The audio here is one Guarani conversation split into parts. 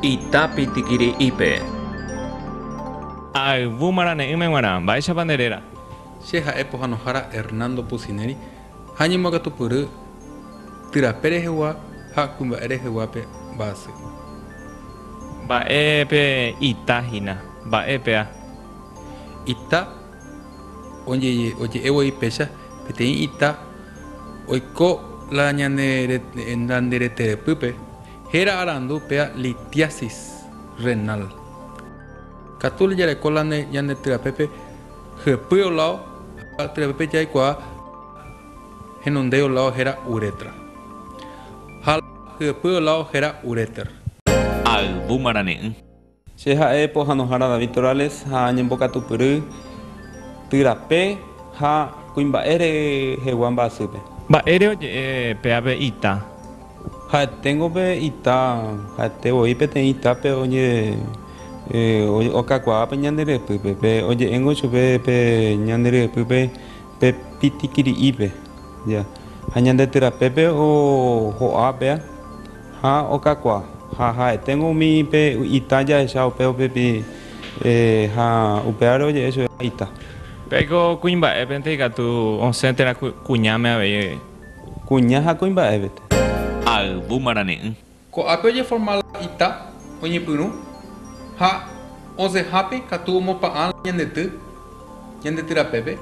Ita pitikiri'ípe. Ayvu marane'ỹme g̃uarã, mba'éichapa nde réra? Che ha'e pohanohára Hernando Pusineri ha ñemboakatupyry Tyrape rehegua ha Kuimba'e reheguápe mba'asy. Mba'e pe ita hína? Mba'e pea? Ita. Oje'e voi péicha peteĩ ita oiko la ñande reterepýpe, héra arandu péa litiasis renal. Katu la jareko la ñande tyapépe hyepy olao ha tyapépe jaikuaa henondéi olao héra uretra ha la hyepy olao héra ureter. Ayvu marane'ỹ. Che ha'e pohanohára David Torales ha añembokatupyry ty rape ha kuimba'e rehegua mba'asýpe. Mba'ére oje'e pe ave ita? Ha'eténgo pe ita, ha'ete voi peteĩ ita pe okakuaa pe ñande ryepýpe, pe oje'éngo chupe pe ñande ryepýpe Pe pitikiri'ípe, ja, ha ñande ty rapépe oho'a pea, ha okakua, ha ha'eténgo umi pe ita jahecha upe upepi, ha upévare oje'e chupe ha ita. Pe ko kuimba'épente ikatu osẽ térã kuñáme avei. Kuña ha kuimba'épete. Ayvu marane'ỹ. Ko'ápe ojeforma la ita oñepyrũ ha osẽhápe katu omopa'ã la ñandety ñandetyr apépe,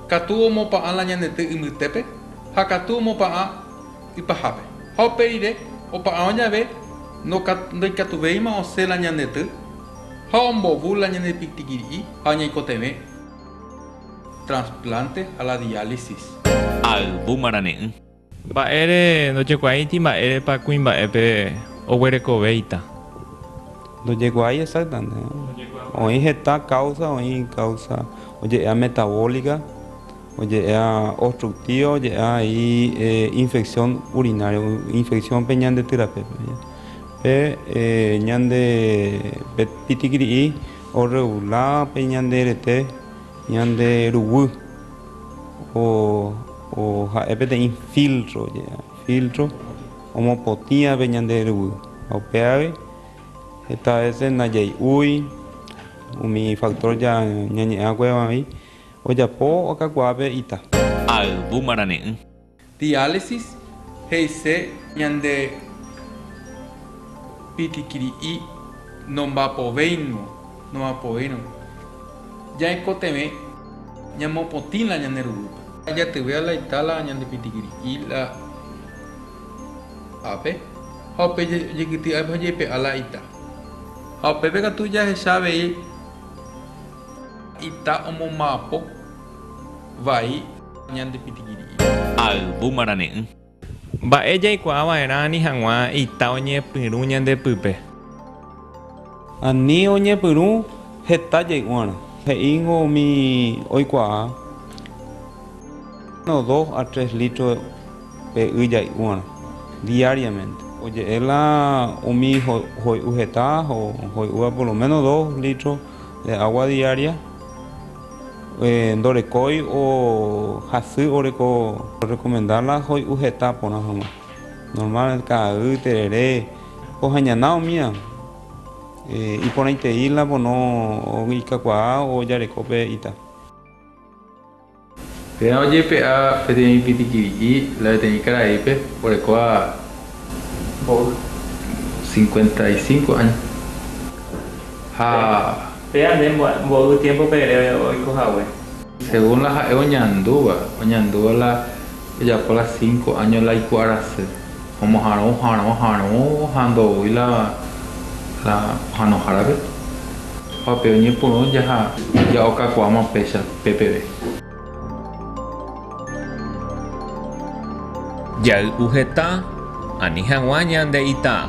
katu omopa'ã la ñandety ymbýtépe ha katu omopa'ã ypahápe. Ha upe rire opa'arõ jave ndoikatuvéima osẽ la ñandety ha ombovy la ñande pitikiri'i ha oñaikotevẽ transplante ha la diálisis. Ayvu marane'ỹ. Mba'ére ndojekuaáiti mba'érepa kuimba'épe oguerekovéita. Ndojekuaái exactamente. Oĩ heta causa, oĩ causa oje'ea metabólica, oje'ea obstructiva, oje'ea he'i infección urinaria, infección pe ñande tyrapepe. Pe ñande pe pitikiri'i orregular pe ñande rete ñande ruguy. O ha'e peteĩ filtro, filtro omopotĩape ñande ruguy. Ha upeágui heta vece ndajai'úi umi factor ñañe'ẽ akuévagui ojapo okakuaa pe ita. Ayvu marane'ỹ. Diálisis he'ise ñande pitikiri'i nombapovéingo, noapoírõ. Ja'ekotevẽ ñamopotĩ la ñane rurúpe. Jatyvea la ita la ñande pitikiri'i la ápe, ha upe jaikytĩ ápe ha jaipe'a la ita. Ha upépe katu jahecha avei ita omomba'apo. vai ñande pitĩgiri'i. Ayvu marane'ỹ. Mba'e jaikuaa va'erã ani hag̃ua ita oñepyrũ ñande pype. Ani oñepyrũ heta jay'uarã. He'íngo umi oikuaa uno, dos a tres litro pe y jay'uarã diariamente. Oje'e la umi hoy'u heta hoy'úva por lo menos dos litro de agua diaria. Ndorekói o hasy oreko rekomenda la hoy'u heta porã hag̃ua. Normálmente ka'aguy, terere, ohañana omía. Iporãitei la pono ikakuaa o jareko pe ita. Térã ojepe'a peteĩ pitikiri'i la peteĩ karaípe orekóva Mbóva. Cincuenta y cinco año. Ha. Péva nde mboy'u tiémpope ere oiko hague. Según la ha'e oñandúva, oñandúva la ojapo la cinco año la iku arasy, omohãrõ, ohãrõ, harõ ha ndoúi la la ohanohárape. Opa pe oñepyrũ jaha ja'okakuaáma péicha pépeve. Jay'u heta, ani hag̃ua ñande ita.